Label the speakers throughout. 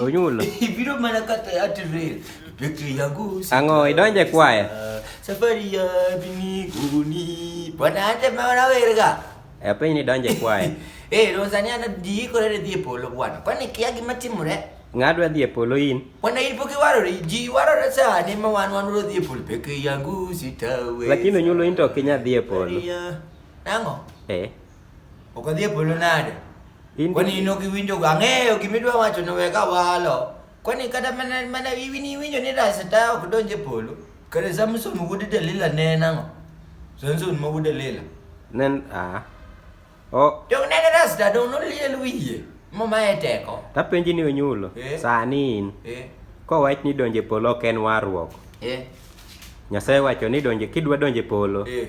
Speaker 1: Onyulo. Ibiro
Speaker 2: mana kata
Speaker 1: atirel. Pekri yangu. Ang'o idonje
Speaker 2: kwaya? Safari ya
Speaker 1: biniguni. Bwana hata maana werga. E piny ni donje
Speaker 2: kwaya. Eh, Tanzania na
Speaker 1: diikore ne dhi e polo bwana. Kwani kia gima timore? Ng'adwa dhi e polo
Speaker 2: in. Bwana in pok iwarore,
Speaker 1: ji warore sani ma wan wan wadhi e polo. Pekri yangu sitawe. Lakini onyulo in to ok
Speaker 2: inya dhi e polo. Ang'o?
Speaker 1: Eh. Ok adhi e polo nade? In Kwani in ok iwinjo go ang'eyo gima idwa wacho ni weka walo. Kwani kata mana mana iwini iwinjo ni raseta ok donj e polo. Kare Samson wuod Delila ne en ang'o? Samson ma wuod Delila. nen ah. O Dong ne en raseta dong noliel wiye. Mama e teko. tapenji ni onyulo.
Speaker 2: Eh. Sani in Eh. kowach ni donje polo ok en warruok. Eh. Nyasaye wacho ni donje kidwa donje polo Eh.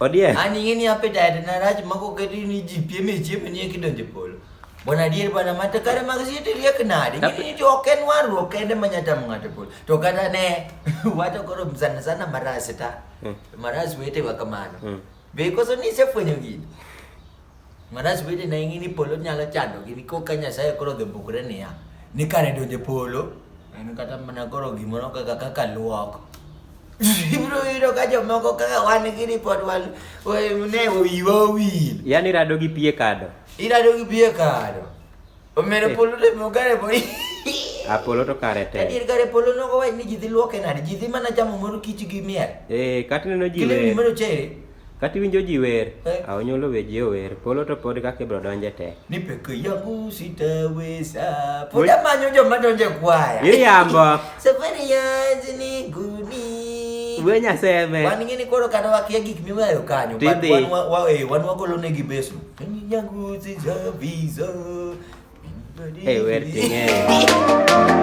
Speaker 1: Odiek. An ing'e ni
Speaker 2: appetite
Speaker 1: na rach ma koketi ni ji piem e chiemo ni eki donjo e polo. Bwana adier bwana ma to kare mag siete riek nade? Ing'e ni to ok en warruok kende ma nyalo tamo ng'ato e polo. To kata ne wacho koro sana sana marasi ta. Marasi wetewa kamano. Be koso ni isefwenyo gini? Marach bende ne ing'i ni polo nyalo chandogi ni koka Nyasaye koro odhi bukre niya ni kare donjo polo en kata mana koro gimoro kaka kaka luok ibiro yudo ka jomoko kaka wan gini pod wan ne wiwa owil yani rado gi pie
Speaker 2: kado irado gi pie
Speaker 1: kado omero eh. polo to mogare po Apolo
Speaker 2: to kare te. Adier kare polo nogo wach
Speaker 1: ni ji dhi luoke nade? Ji dhi mana chamo mor kich gi miel. Eh, kata neno ji. Kile ni
Speaker 2: mero chere. Kati
Speaker 1: winjo ji
Speaker 2: wer, eh. a onyolo we ji ower, polo to pod kaka ibro donje te. Ni peke yangu
Speaker 1: sitaweza. Pod amanyo joma donje kwaya. Iriambo.
Speaker 2: Safari yangu
Speaker 1: ni guni. We
Speaker 2: nyaseme. Wan ngini koro kata
Speaker 1: wakia gik miweyo kanyo. Tidhi. Wan wa, wa, eh,
Speaker 2: wan wagolo
Speaker 1: negi beso. Peke yangu sitaweza. Hey, wer ting'eyo.